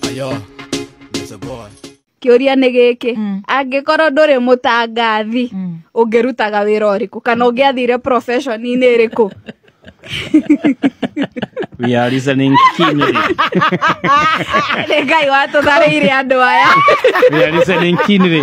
Ayo, there's a boy. kĩũria nĩ gĩkĩ Mm. angĩkorwo ndũrĩ mũtangathi Mm. ũngĩrutaga wĩra ũrĩkũ kana ũngĩathire profession-inĩ ĩrĩkũ We are listening keenly. nĩ ngai watũtharĩire andũ aya We are listening keenly.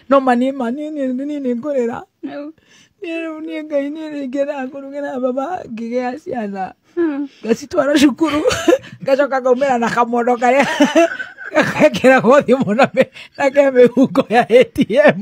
no mani mani ni ni ni ngorera ni ni ngai ni ni ngera ngurugera baba ngigea ciana ngacitwara cukuru ngacoka ngaumĩra na kamondo karĩa gakekĩra gothi mũno na ke mĩhuko ya atm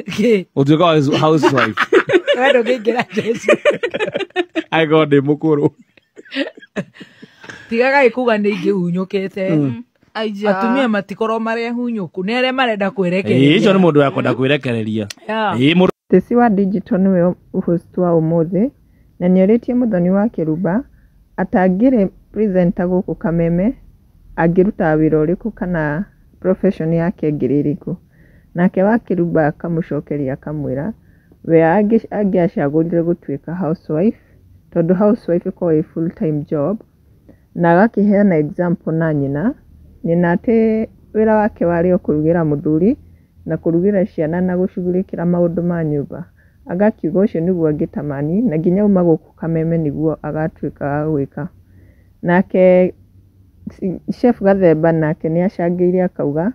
Kĩ? ũtuĩka wa his- housewife Wee ndũngĩingĩra Jesu. aigoo ndĩ mũkũrũ tigaga ikuga nä ingä hunyåkäte Aija. atumia matikorwo marä hunyåku nä arä a marenda kwä Ĩĩ, rekereria icio nĩ mũndũ wakwenda kwĩrekereria Yeah. Ĩĩ, mũndũ Tĩci wa Digital nĩwe host wa ũmũthĩ na nĩorĩtie Mũthoni wa Kĩrumba atangĩrĩ presenter gũkũ Kameme angĩrutaga wĩra ũrĩkũ kana profession yake ĩngĩrĩ ĩrĩkũ. Nake wa kĩrumba akamũcokeria akamwĩra, we angĩacagũrire gũtuĩka housewife, tondũ housewife ĩkoragwo ĩ full time job, na agakĩheana example na nyina, nyina atĩ wĩra wake warĩ o kũrugĩra mũthuri, na kũrugĩra ciana na gũcugurĩkĩra maũndũ ma nyũmba. Agakiuga ũcio nĩguo angĩtamani, na nginya auma gũkũ kameme nĩguo agatuĩka wa gwĩka. Nake chef Gathemba nake nĩ acangĩire akauga,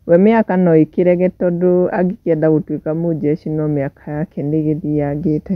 We mĩaka no ĩkĩrege tondũ angĩkĩenda gũtuĩka mũnjeci no mĩaka yake nĩ ĩgĩthiyangĩte.